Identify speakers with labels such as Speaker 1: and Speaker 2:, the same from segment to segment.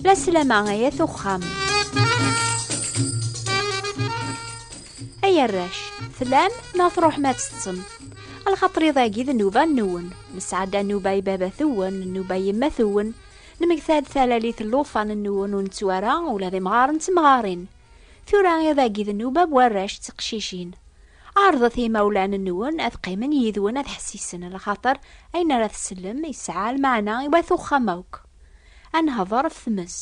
Speaker 1: La slama ay at uxxam. Ay arrac, tlam neɣ tṛuḥem ad teṭṭsem. Alxaṭri dagi d nnuba nwen. Nesɛedda nnuba i baba-twen, nnuba i yemma-twen. Nemgta-d talalit n lufan nwen ur nettu ara ula d imɣaren d temɣarin. Tura iḍ-agi d nnuba n warrac d teqcicin. Ɛerḍet i yimawlan-nwen ad qqimen yid-wen ad ḥessisen, lxaṭer ayen ara tsellem yesɛa lmeɛna i wat uxxam akk. Ad nehder ɣef tmes,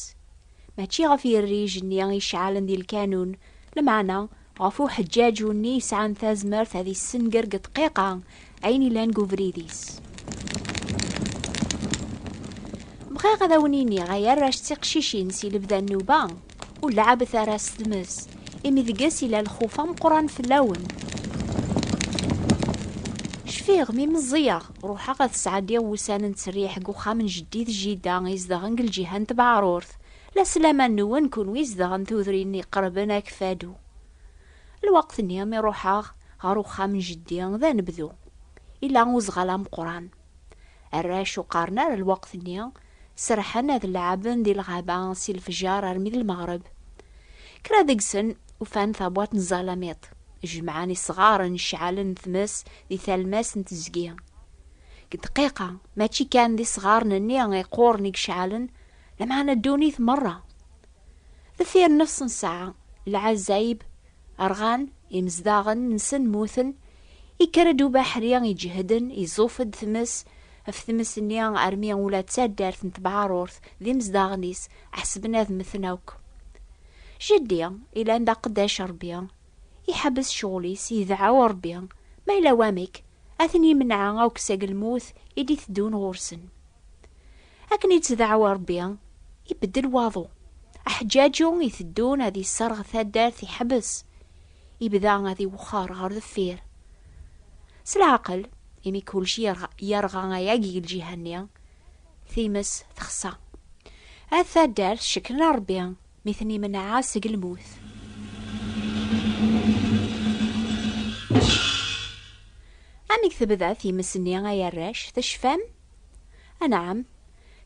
Speaker 1: mačči ɣef yirrij-nni iceɛlen di lkanun, lmeɛna ɣef uḥeǧǧaǧu-nni yesɛan tazmert ad yessenger deg ddqiqa Ayen ilan deg ubrid-is. Bɣiɣ ad awen-iniɣ ay arrac d tiqcicin si lebda nnuba, ur leɛɛbet ara s tmes, imi deg-s ila lxuf ameqqran fell-awen. Cfiɣ mi meẓẓiyeɣ, ruḥeɣ ad sɛeddiɣ wussan n ttriḥ deg uxxam n jeddi d jida izedɣen deg lǧiha n Tbeɛrurt, la s laman-nwen kunwi izedɣen tudrin iqerben Akfadu. Lweqt-nni mi ruḥeɣ ɣer uxxam n jeddi d anebdu, yella uzɣal ameqqran. Arrac ur qqaren ara lweqt-nni, serrḥen ad leɛɛben di lɣaba si lefjer armi d lmeɣreb. Kra deg-sen ufan tabwaṭ n zalamiṭ, jemɛen isɣaren ceɛlen n tmes di talmas n teẓgi. Deg ddqiqa, mačči kan d isɣaren-nni iqquren i yeceɛlen, lameɛna ddunit merra. Deffir nefs n ssaɛa, lɛazzayeb rɣan, imezdaɣen nsen mmuten, ikker-d ubaḥri iǧehden, iẓuf-d tmes, ɣef tmes-nni armi ula d taddart n tebɛarurt d imezdaɣen-is ḥesben ad mmten akk. Jeddi, ilan d aqeddac Rebbi, iḥebbes ccɣel-is, idɛaw Rebbi, ma yella wamek, ad ten-imneɛ akk seg lmut i d-iteddun ɣur-sen. Akken ittdaɛwa Rebbi, ibeddel waḍu. Aḥeǧǧaǧu iteddun ad isserɣ taddart iḥbes, ibda ad iwexxer ɣer deffir. S leɛqel, imi kulci yerɣa ayagi i lǧiha-nni, times texṣa. At taddart cekkren a Rebbi mi ten-imenɛa seg lmut. Amek tebda times-nni ay arrac, tecfam? Anɛam,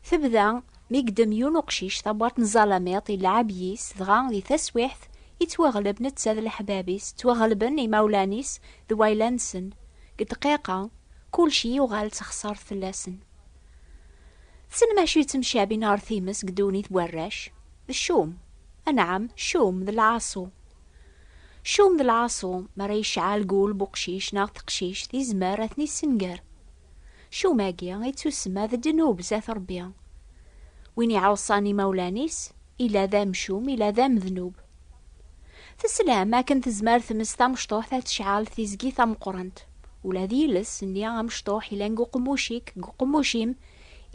Speaker 1: tebda mi yeddem yiwen uqcic tabwart n ẓalamiṭ yelɛab yis, dɣa di taswiɛt yettwaɣleb netta d leḥbab-is, ttwaɣelben imawlan-is d wayla-nsen, deg ddqiqa kulci yuɣal d taxsart fell-asen. Tessnem acu yettemcabin ɣer times deg ddunit n warrac? D ccum! Anɛam, ccum d lɛaṣu. Ccum d lɛaṣu, mi ara yecɛel gul n uqcic neɣ teqcict, yezmer ad ten-yessenger. Cumagi i tusemma d ddnub zat Rebbi. Win iɛuṣan imawlan-is, ila d amcum, ila d amednub. Teslam akken tezmer tmes tamecṭuḥt ad tecɛel tizgi tameqqrant. Ula d yiles nni amecṭuḥ ilan deg uqemmuc-ik, deg uqemmuc-im,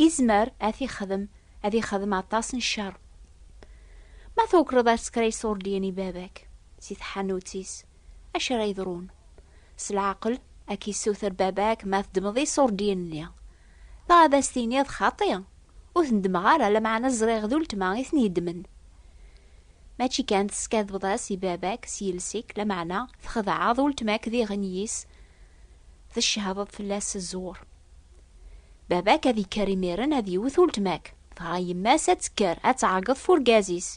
Speaker 1: izmer ad t-ixdem, ad ixdem aṭas n ccer. Ma tukreḍ asekray Surdian i baba-k, si tḥanut-is, Acu ara yeḍrun? S leɛqel, ad k-yessuter baba-k ma teddmeḍ iṣurdiyen-nni. Neɣ ad as-tiniḍ, Xaṭi, ur ten-ddmeɣ ara, lameɛna ẓriɣ d uletma i ten-yeddmen. Mačči kan teskadebeḍ-as i baba-k s yiles-ik, lameɛna txedɛeḍ uletma-k diɣen n yis, tcehdeḍ fell-as s ẓẓur. Baba-k ad yekker imiren ad yewwet uletma-k, dɣa yemma-s ad tekker ad tɛeggeḍ f urgaz-is,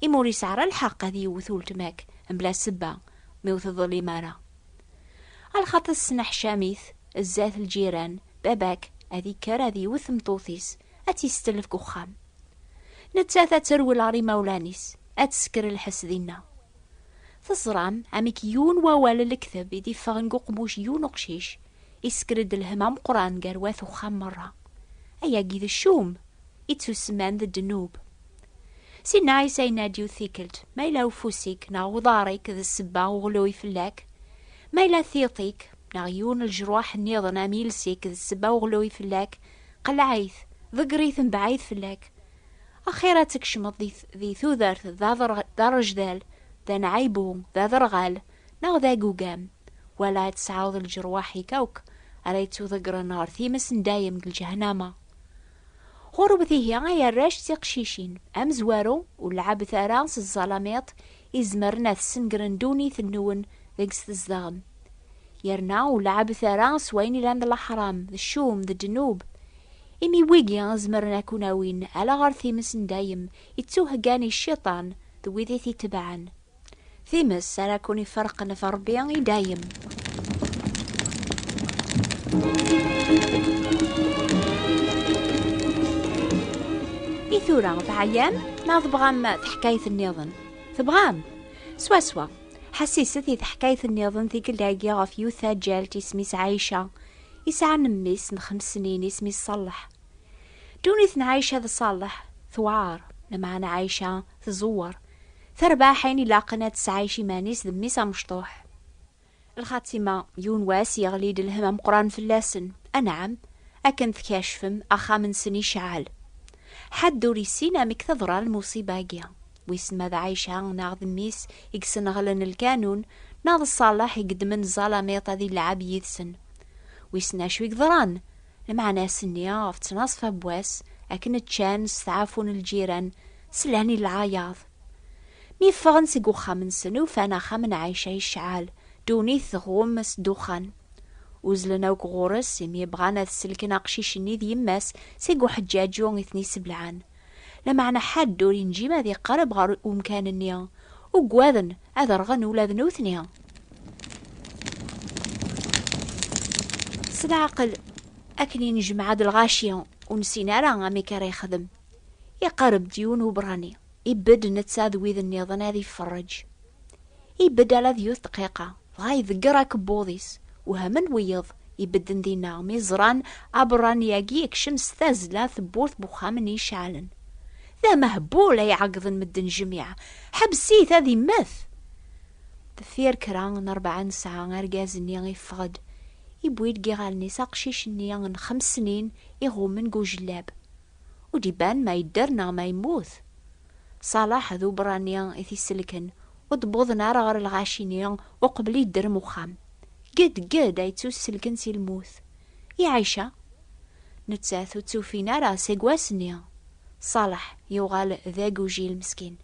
Speaker 1: imi ur yesɛi ara lḥeqq ad yewwet uletma-k, Mebla sebba, mi ur teḍlim ara. A lxaṭer tesneḥcam-it, zdat lǧiran, baba-k ad ikker ad iwet tmeṭṭut-is, ad tt-istetlef deg uxxam. Nettat ad terwel ɣer imawlan-is, ad tesker lḥess dinna. Teẓram amek yiwen wawal n lekteb i d-iffɣen deg uqbuc n yiwen uqcic, isker-d lhem ameqqran gar wat uxxam merra. Ayagi d ccum! I tusman d ddnub. Sinna Ɛisa yenna-d-yiwet tikkelt, Ma yella ufus-ik neɣ uḍar-ik d ssebba uɣlui fell-ak, ma yella tiṭ-ik neɣ yiwen n lejruḥ nniḍen am iles-ik d ssebba uɣlui fell-ak, qleɛ-it, ḍegger-it mebɛid fell-ak. Axir ad tkecmeḍ di tudert d arejdal, d anɛaybu, d aderɣal, neɣ d agugam, wala ad tesɛuḍ lejruḥ-ik akk ara yettuḍeggren ɣer times n dayem deg lǧehnama. Ɣurwet ihi ay arrac d tiqcicin, amezwaru ur leɛɛbet ara s ẓẓalamiṭ izemren ad sengren ddunit-nwen deg-s tzedɣem. Yerna ur leɛɛbet ara s wayen ilan d leḥram, d ccum, d ddnub. Imi wigi zemren ad ken-awin ala ɣer times n dayem ittuheggan i cciṭan d wid i t-itebɛen. Times ara kun iferqen ɣef Rebbi i dayem. I tura teɛyam neɣ tebɣam teḥkayt nniḍen? Tebɣam? Swaswa. Ḥassiset i teḥkayt nniḍen tikkelt-agi ɣef yiwet taǧǧalt isem-is Ɛica. Isɛa n mmi-s n xems snin isem-is Ṣaleḥ. Ddunit n Ɛica d Ṣaleḥ tewɛer, lameɛna Ɛica tẓewwer. Tarbaḥ ayen ilaqen ad tesɛayec iman-is d mmi-s amecṭuḥ. Lxatima, yiwen wass yeɣli-d lhemm ameqqran fell-asen, anɛam, akken tkacfem, axxam-nsen iceɛɛel. Ḥedd ur yessin amek teḍra lmuṣiba-agi. Wissen ma d Ɛica neɣ d mmi-s i yesneɣlen lkanun, neɣ d Ṣaleḥ i yeddmen ẓẓalamiṭ ad ilɛab yid-sen. Wissen acu i yeḍran? Lmeɛna ass-nni, ɣef ttnaṣfa n wass, akken ččan, steɛfun lǧiran, slan i leɛyaḍ. Mi ffɣen seg uxxam-nsen, ufan axxam n Ɛica yecɛel, ddunit tɣum s ddexxan. Uzzlen akk ɣur-s, imi bɣan ad selken aqcic-nni d yemma-s seg uḥeǧǧaǧu i ten-iseblaɛen. Lameɛna ḥedd ur inǧim ad iqerreb ɣer umkan-nni, uggaden ad rɣen ula d nutni. S leɛqel, akken i nejmeɛ-d lɣaci ur nessin ara amek ara yexdem, iqerreb-d yiwen uberrani, ibedd netta d wid nniḍen ad iferreǧ. Ibedd ala d yiwet dqiqa, Dɣa iḍegger akebbuḍ-is, wehmen wiyeḍ ibedden dinna mi ẓran aberrani-agi yekcem s tazzla tewwurt n uxxam n yiceɛlen. D amehbul ay ɛeggḍen medden jmiɛ, ḥbes-it ad immet! Deffir kra n rebɛa n ssaɛa argaz-nni yeffeɣ-d, yewwi-d deg yiɣallen-is aqcic-nni n xemssnin iɣummen deg ujellab. Ur d-iban ma yedder neɣ ma yemmut. Ṣalaḥ d uberrani i t-isellken, ur d-wwḍen ara ɣer lɣaci-nni uqbel yedderm uxxam. Ged ged ay ttuselken si lmut. I Ɛica? Nettat ur tt-ufin ara seg wass-nni. Ṣalaḥ yuɣal d agujil meskin.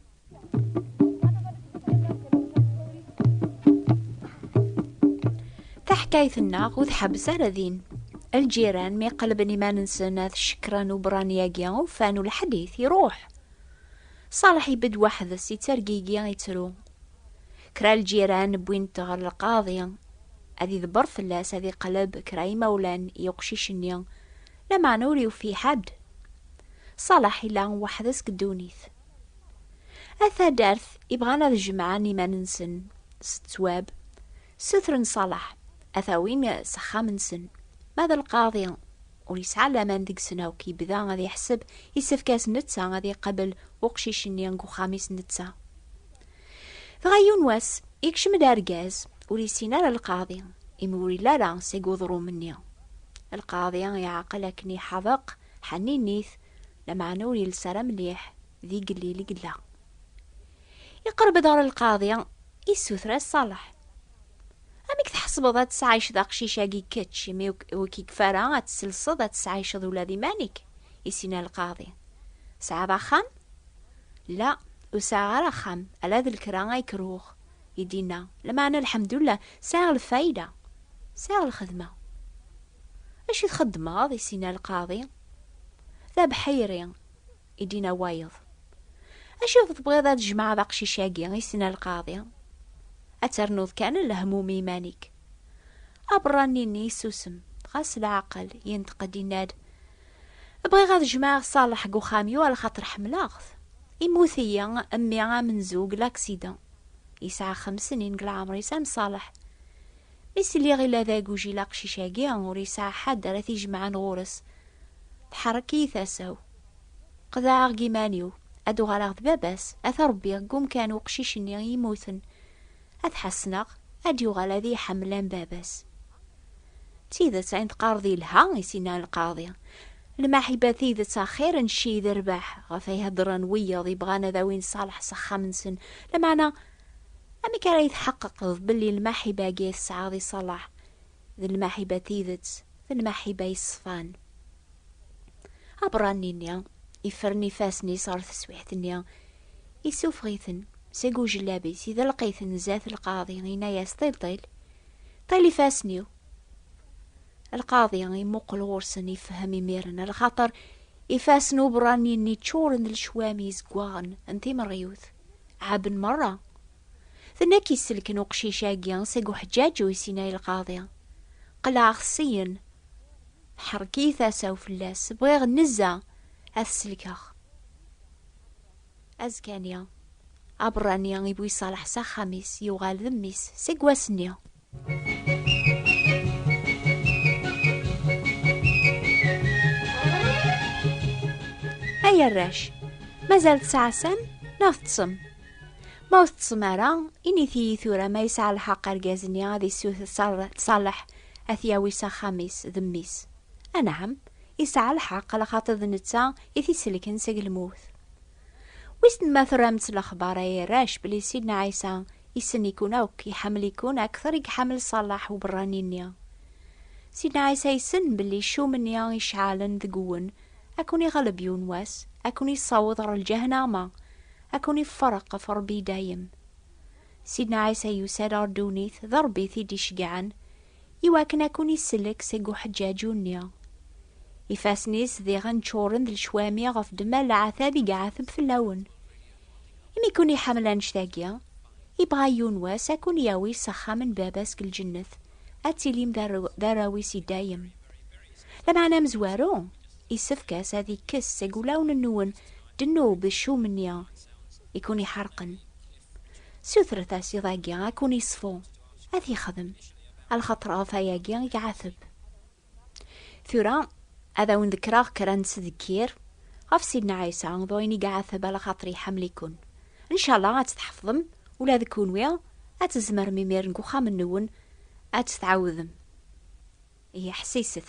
Speaker 1: Taḥkayt-nneɣ ur tḥebbes ara din. Lǧiran mi qelben iman-nsen ad cekkren uberrani-agi, ufan ulaḥed-it, iruḥ. Ṣaleḥ ibedd weḥd-s, ittergigi, ittru. Kra lǧiran wwin-t ɣer lqaḍi, ad idebber fell-as, ad iqleb kra imawlan i uqcic-nni, lameɛna ur yufi ḥedd. Ṣaleḥ ila weḥd-s deg ddunit. At taddart ibɣan ad jemɛen iman-nsen s ttwab, ssutren Ṣaleḥ ad t-awin s axxam-nsen, ma d lqaḍi ur yesɛa laman deg-sen akk, yebda ad iḥseb yessefk-as netta ad iqabel uqcic-nni deg uxxam-is netta. Dɣa yiwen wass, yekcem-d argaz ur yessin ara lqaḍi, imi ur yelli ara seg uḍrum-nni. Lqaḍi iɛqel akken iḥabeq, ḥanni-nit, lameɛna ur yelles ara mliḥ, d igellil i yella. Iqerb-d ɣer lqaḍi, issuter-as Ṣaleḥ. Amek tḥesbeḍ ad tesɛayceḍ aqcic-agi kečč, imi ur k-ikfa ara ad tselseḍ ad tesɛayceḍ ula d iman-ik? Isina lqaḍi. Tesɛiḍ axxam? La, ur sɛiɣ ara axxam, ala d lkra ay kruɣ. I d-yenna, Lameɛna lḥemdullah, sɛiɣ lfayda, sɛiɣ lxedma. Acu i txeddmeḍ? Isina lqaḍi. D abeḥḥiri, i d-ina wayeḍ. Acu tebɣiḍ ad jemɛeḍ aqcic-agi, i s-ina lqaḍi. Ad ternuḍ kan lehmum i iman-ik. Aberrani-nni yessusem, dɣa s leɛqel, yenṭeq-d yenna-d, Bɣiɣ ad jemɛeɣ Ṣaleḥ deg uxxam-iw ala xaṭer ḥemmleɣ-t. Immut-iyi mmi amenzu deg laksidan. Yesɛa xems snin deg leɛmer-is am Ṣaleḥ. Mi s-lliɣ ila d agujil aqcic-agi, ur yesɛi ḥedd ara t-ijemɛen ɣur-s. Tḥerrek-iyi tasa-w. Qeḍɛeɣ deg iman-iw, ad uɣaleɣ d baba-s, ad t-ṛebbiɣ deg umkan uqcic-nni i yemmuten, ad t-ḥesneɣ, ad d-yuɣal ad iyi-ḥemmel am baba-s. D tidet, ayen teqqareḍ yelha, i s-yenna lqaḍi. Lmaḥiba d tidet axir n cci d rrbeḥ, ɣef ay heddṛen wiyaḍ yebɣan ad awin Ṣaleḥ s axxam-nsen. Lameɛna, amek ara iyi-tḥeqqeqeḍ belli lmaḥiba-agi ay tesɛiḍ i Ṣaleḥ, d lmaḥiba tidet, d lmaḥiba yeṣfan. Aberrani-nni ifren ifassen-is ɣer teswiḥt-nni, issufeɣ-iten seg ujellab-is, idelq-iten zdat lqaḍi, inna-yas, Ṭil-ṭil, ṭil ifassen-iw! Lqaḍi imuqel ɣur-sen, ifehhem imiren, lxaṭer ifassen uberrani-nni ččuren d lecwami izeggaɣen n timerɣiwt, ɛaben merra, Tenna k-isselken uqcic-agi seg uḥeǧǧaǧ u isinay lqaḍi. Qelɛeɣ-t syen. Teḥrek-iyi tasa-w fell-as, bɣiɣ nnezza ad t-selkeɣ. Azekka-nni, aberrani i bu-iṣaleḥ s axxam-is, yuɣal d mmi-s seg wass-nni. Ay arrac, mazal tesɛasam neɣ teṭṭsem? Ma ur teṭṭsem ara, init-iyi tura ma yesɛa lḥeqq argaz-nni ad issuter Ṣaleḥ ad t-yawi s axxam-is d mmi-s. Anɛam, yesɛa lḥeqq laxaṭer d netta i t-isellken seg lmut. Wissen ma turamt lexbar ay arrac belli Sidna Ɛisa issen-ikun akk, iḥemmel-ikun akter i iḥemmel Ṣalaḥ uberrani-nni. Sidna Ɛisa issen belli ccum-nni iceɛɛlen deg-wen ad ken-iɣleb yiwen wass, ad ken-issaweḍ ɣer lǧehnaama, ad ken-iffereq ɣef Rebbi i dayem. Sidna Ɛisa yusa-d ɣer ddunit, d Rebbi i t-id-iceggɛen, I wakken a kun-isellek seg uḥeǧǧaǧu-nni. Ifassen-is diɣen ččuren d lecwami ɣef ddemma n leɛtab i iɛateb fell-awen. Imi i kun-iḥemmel annect-agi, ibɣa yiwen wass a kun-yawi s axxam n Baba-s deg lǧennet, ad tilim d arraw-is i dayem. Lameɛna amezwaru, isefk-as ad ikkes seg wulawen-nwen ddnub d ccum-nni i kun-iḥerqen. Sutret-as iḍ-agi a kun-iṣfu. ad t-yexdem alxaṭer ɣef ayagi i iɛateb tura ad awen-dekreɣ kra n tdekkir ɣef Sidna Ɛisa d wayen i iɛateb alxaṭer iḥemmel-iken ncala ad tt-tḥefḍem ula d kunwi ad tzemrem imir deg uxxam-nwen ad tt-tɛawdem ihi ḥsiset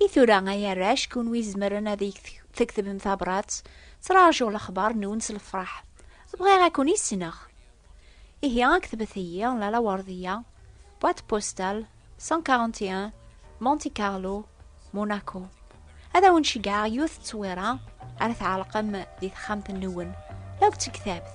Speaker 1: I tura ay arrac kunwi izemren ad iyi-tekdbem tabrat, ttrajuɣ lexbar-nwen s lefraḥ. Bɣiɣ ad ken-issneɣ. Ihi ketbet-iyi la lawerdiya, boîte postale 141, Monte Carlo, Monaco. Ad awen-ceggɛeɣ yiwet ttwira ara tɛelqem di texxamt-nwen, la deg tektabt.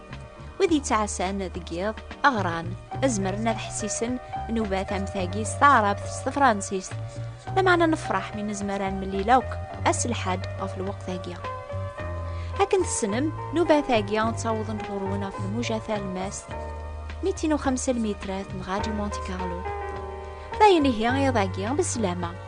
Speaker 1: wid yettɛassan deg yiḍ aɣran azmren ad ḥessisen nubat am tagi s taɛrabt s tefransist lameɛna nefṛeḥ mi nezmer ad nemlil akk ass lḥad ɣef lweqt-agi akken tessnem nubat-agi ttawḍent ɣur-wen ɣef lmuja talmast 250 mitrat n ṛadyu monte carlo d ayen ihi iḍ-agi beslama